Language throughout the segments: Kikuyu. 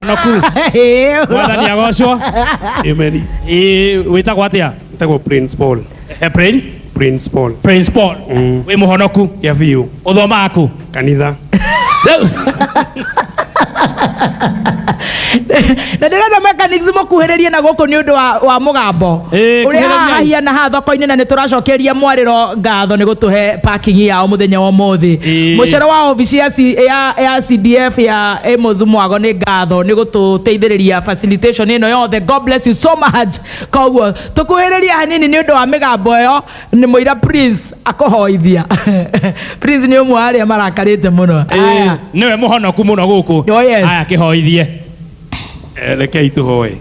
naku mwathani agocwo Amen. Ĩ, wĩtagwo atĩa Tego Prince Paul. Eh, Prin- Prince Paul. Prince Paul Mm. wĩ mũhonoku Kia biũ. ũthomaga kũ Kanitha. Rĩu- na ndĩrenda mechanics mũkuhĩrĩrie na gũkũ nĩ ũndũ wa, wa mũgambo Ĩĩ, ũrĩa kuhĩrĩriai. haha hahiana haha thoko-inĩ na nĩ tũracokeria mwarĩro ngatho nĩ gũtũhe parking yao mũthenya wa ũmũthĩ Ĩĩ. mũcoro wa obici ya, C- ya, ya cdf ya Amos Mwago nĩ ngatho nĩ gũtũteithĩrĩria facilitation ĩno yothe God bless you so much koguo tũkuhĩrĩria hanini nĩ ũndũ wa mĩgambo ĩyo nĩ mũira Prince akũhoithia Prince nĩ ũmwe wa arĩa marakarĩte mũno Aya. nĩwe mũhonoku mũno gũkũ Oh, yes. aya kĩhoithie Eh, rekei tũhoe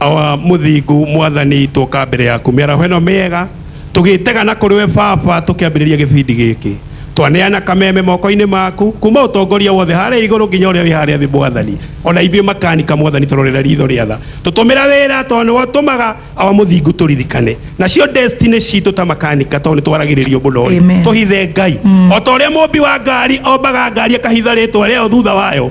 Awa mũthingu mwathani twoka mbere yaku mĩaraho ĩno mĩega tũgĩtega na kũrĩ we baba tũkĩambĩrĩria gĩbindi gĩkĩ twaneana kameme mokoinĩ maku kuma ũtongoria wothe harĩa igũrũ nginya ũrĩa wĩ harĩa thĩ mwathani ona ithuĩ makanika mwathani tũrorera ritho rĩa tha tũtũmĩra wĩra tondũ nĩwe ũtũmaga awa mũthingu tũririkane nacio destiny citũ ta makanika tondũ nĩtwaragĩrĩrio mũno rĩ Amen. tũhithe ngai ota ũrĩa mũmbi wa ngari ombaga ngari akahitha rĩtwa rĩayo thutha wayo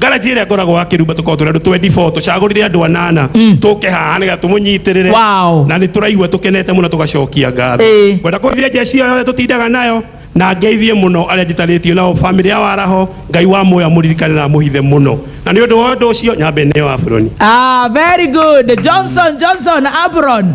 ngaraji ĩrĩa ngoragwo wa kĩrumba tũkoragwo tũrĩ andũ 24 tũcagũrire andũ anana tũke haha nĩgetha tũmũnyitĩrĩre Wow. na nĩ tũraigua tũkenete mũno tũgacokia ngatho Ĩĩ. ngwenda kũgeithia njeci ĩyo yothe tũtindaga nayo na ngeithie mũno arĩa njitarĩtio nao bamĩrĩ ya waraho ngai wa muoya mũririkane na mũhithe mũno na nĩ ũndũ wa ũndũ ũcio nyambe nĩ wa buroni Ah, very good. Johnson, Johnson, Abron.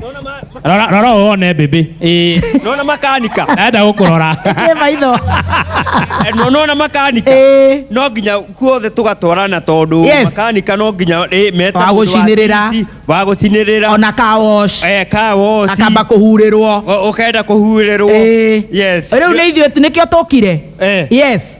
Naona ma- ma- rora rora wone mbĩmbĩ eh, naona makanika naenda gũkũrora Ĩ maitho. Eh, no- naona makanika Ĩ. no nginya guothe tũgatwarana tondũ Yes. makanika no nginya eh, meta Wa mũndũ wa gũcinĩrĩra. titi, wa gũcinĩrĩra Ona ka wash. eh, ka woci Akamba kũhurĩrwo. O- ũkaenda kũhurĩrwo Ĩ. yes Rĩu nĩ ithuĩ nĩkĩo tũkire. Eh. Yes.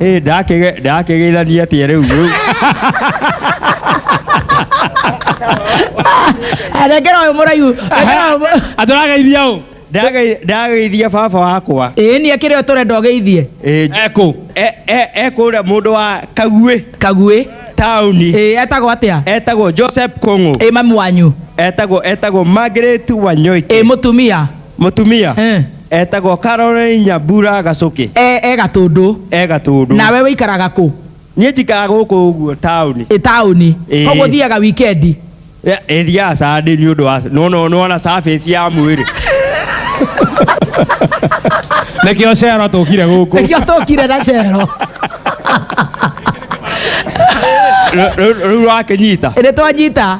Ĩ, ndakĩge- ndakĩgeithania atĩa rĩu rĩu arengera ũyũ mũraihu rengera ũyũ mũ- atũrageithia ũ Ndagei- ndageithia baba wakwa ĩĩ nĩ akĩrĩ o tũrenda ũgeithie Ĩ, nj- ekũ e- e- e kũrĩa mũndũ wa kaguĩ kaguĩ taũni ĩĩ etagwo atĩa etagwo joseph kũng'ũ ĩĩ mami wanyu etagwo etagwo margaret wanyoike ĩĩ mũtumia mũtumia Eh. Etagwo Caroline Nyambura Gacũkĩ. E, e Gatũndũ. E Gatũndũ. Nawe wĩikaraga kũ? Niĩ njikaraga gũkũ ũguo taũni. Ĩ taũni. Ĩĩ. Koguo thiaga wikendi. Ĩ- ĩ, thiaga Sunday nĩ ũndũ wa no no no na surface ya mwĩrĩ. Nĩkĩo cero tũkire gũkũ. Nĩkĩo tũkire na cero. Rĩu- Rĩu rĩu wakĩnyita. Nĩ twanyita.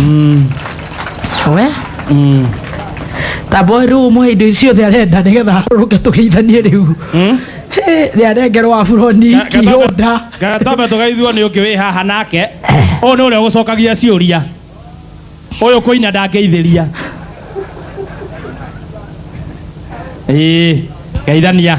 Mm, we mm. tamba rä u må he indo icio thä arenda nä getha harå ke tå geithanie rä u rä arengerwo aburoni Ga- gatamba- kihonda gatamba tũgaithua nĩ ũngĩ wĩ haha nake ũyũ nĩ ũrĩa ũgũcokagia ciũria ũyũ kũina ndangĩithĩria ĩĩ geithania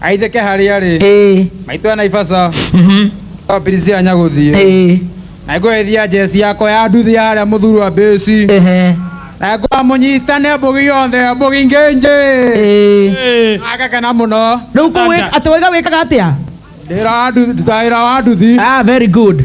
aitheke harĩa rĩ ĩĩ maitũ ya naibasa mhm, wapirisia nyagũthiĩ ĩĩ na ngũgeithia njeci yakwa ya nduthi ya harĩa mũthuri wa mbĩci ehe na ngwamũnyitane mbũgi yothe mbũgi ngĩnjĩ ĩĩ agakena mũno rĩu kũwĩ atĩ waiga wĩkaga atĩa ndĩra wa nduthi ndutaĩra wa nduthi ah very good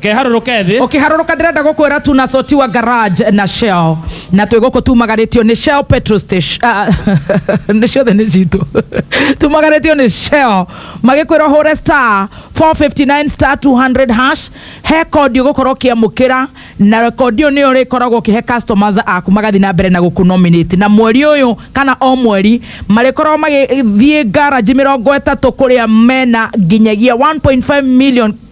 ngeharũrũka ethĩ ũkĩharũrũka ndĩrenda gũkwĩra tuna soti wa garage na shell na twĩ gũkũ tumagarĩtio nĩ shell petrol station ah, nĩ ciothe nĩ citũ tumagarĩtio nĩ shell magĩkwĩra hũre star 459 star 200 hash he kondi ũgũkorwo ũkĩamũkĩra na kondi ĩyo nĩyo rĩkoragwo ũkĩhe customers aku magathiĩ na mbere na gũkũ nominate na mweri ũyũ kana o mweri marĩkoragwo magĩthiĩ garage mĩrongo ĩtatũ kũrĩa mena nginyagia 1.5 million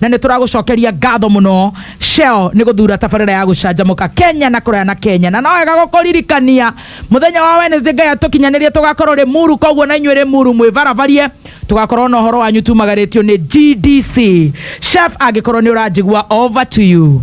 na nĩ tũragũcokeria ngatho mũno Shell nĩ gũthura tabarĩra ya gũcanjamũka Kenya na kũraya na Kenya na no wega gũkũririkania mũthenya wa Wednesday Ngai atũkinyanĩrie tũgakorwo Limuru koguo na inyuĩ Limuru mwĩbaravarie tũgakorwo na ũhoro wanyu tumagarĩtio nĩ GDC Chef angĩkorwo nĩ ũranjigua over to you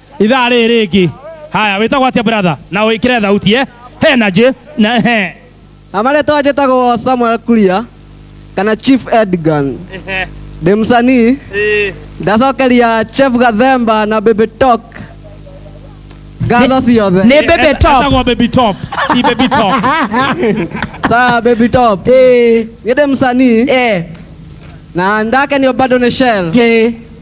ithaa rĩrĩ rĩngĩ haya wĩtagwo atĩa brother na wĩkĩre thauti eh he na njĩ na he na marĩtwa njĩtagwo samuel kuria kana chief edgan ndĩ msanii ndacokeria chef gathemba na baby talk ngatho ciothe nĩ baby top Etagwo baby top ti baby top saa baby top Eh, niĩ ndĩ msanii eh, na ndakenio bado nĩ shell eh.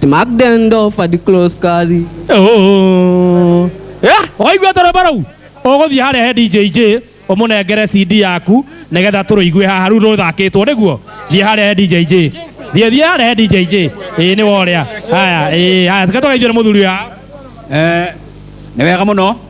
Smack them door for the close carry. Oh. Yeah, waigua toro barau ũgũthiĩ harĩa he DJJ ũmũnengere CD yaku nĩgetha tũrũigue haha rĩu rũthakĩtwo nĩguo thiĩ harĩa he DJJ thiĩ thiĩ harĩa he DJJ ĩĩ nĩ worĩa haya ĩĩ haya tũke tũgeithio nĩ mũthuri ũyũ Eh, nĩ wega mũno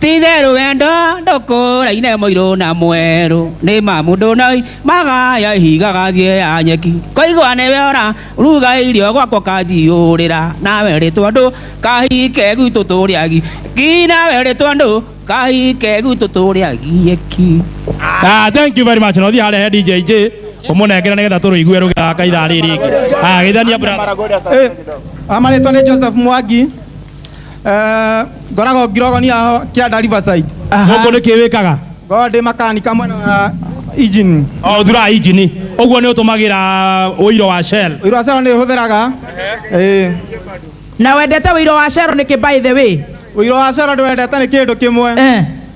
Titherũ wendo ndũkũraine mũirũ na mwerũ nĩ ma mũndũ noi magaya ihiga gathiĩ ya nyeki koigwa nĩwe ora ruga irio gwakwa kanjiũrĩra nawe rĩ tondũ kahike gwitũ tũrĩagi ki nawe rĩ tondũ kahike gwitũ tũrĩagie ki Ah, thank you very much. No thiĩ harĩa he DJ J ũmũnengere nĩgetha tũrũigue rũgĩthaka ithaa rĩrĩ rĩngĩ. Ah, geithania brother. Eh, amarĩtwa nĩ Joseph Mwangi Eh, ngoragwo ngirogonia ho kĩanda riverside gũkũ nĩ kĩ wĩkaga ngoragwo ndĩ makanika mwena wa engine o thuraga injini ũguo nĩ ũtũmagĩra ũiro wa shell ũiro wa shell nĩ ũhũthĩraga ĩĩ na wendete ũiro wa shell nĩkĩ by the way ũiro wa shell ndĩwendete nĩ kĩndũ kĩmwe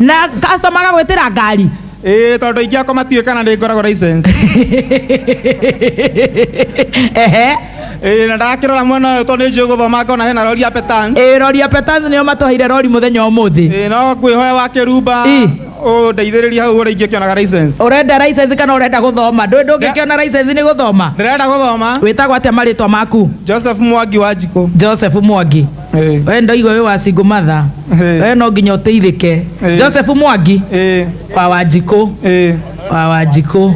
na customer agagwĩtĩra ngari ĩĩ tondũ aingĩ akwa matiũĩ kana nĩ ngoragwo license ehe ĩĩ na ndakĩrora mwena ũyũ tondũ nĩ njũĩ gũthoma ngona hena rori ya petan ĩĩ rori ya petans nĩo matũheire rori mũthenya ũmũthĩ ĩĩ no ngwĩhoya wa kĩrumba Ĩ. ũndeithĩrĩrie hau ũrĩa ingĩkĩonaga license ũrenda license kana ũrenda gũthoma ndũĩ ndũngĩkĩona license nĩ gũthoma ndĩrenda gũthoma wĩtagwo atĩa marĩtwa maku joseph mwangi wa njikũ joseph mwangi Eh. we ndaigua wĩ wa single mother Eh. we no nginya ũteithĩke Eh. joseph mwangi Eh. wa wanjikũ Eh. wa wanjikũ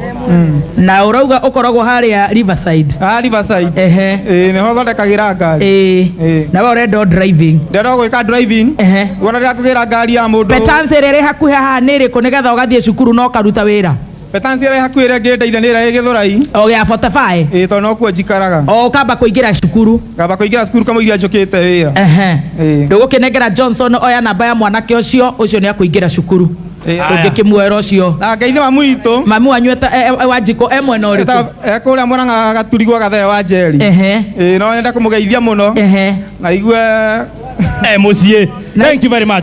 na ũrauga ũkoragwo harĩa riverside Ah, Riverside. ehe Eh, nĩho thondekagĩra ngari Eh. ĩĩ na we ũrenda driving ndĩrenda gwĩka driving ehe wona rĩrĩa kũgĩra ngari ya mũndũ petansi ĩrĩa ĩrĩ hakuhĩ haha nĩ ĩrĩkũ nĩgetha ũgathiĩ cukuru na ũkaruta wĩra Betansi ĩrĩa ĩ hakuhĩ ĩrĩa ĩngĩndeithia nĩ ĩrĩa ĩ Gĩthũrai, o gĩa botebaĩ ĩĩ tondũ nokuo njikaraga. o ũkamba kũingĩra cukuru Ngamba kũingĩra cukuru kamũiria njũkĩte wĩra. Ehe. Ĩĩ. ndũgũkĩnengera johnson oya namba ya mwanake ũcio ũcio nĩ akũingĩra cukuru Ĩĩ. tũngĩkĩmuoera ũcio Na Ngai nĩ mamu witũ. mami wanyu eta- e- e- wa njiko e mwena ũrĩkũ Eta- e kũrĩa Mũrang'a gaturi gwa Gathee wa Njeri. Ehe. Ĩĩ no nyende kũmũgeithia mũno Ehe. na igue e muciĩ thank you very much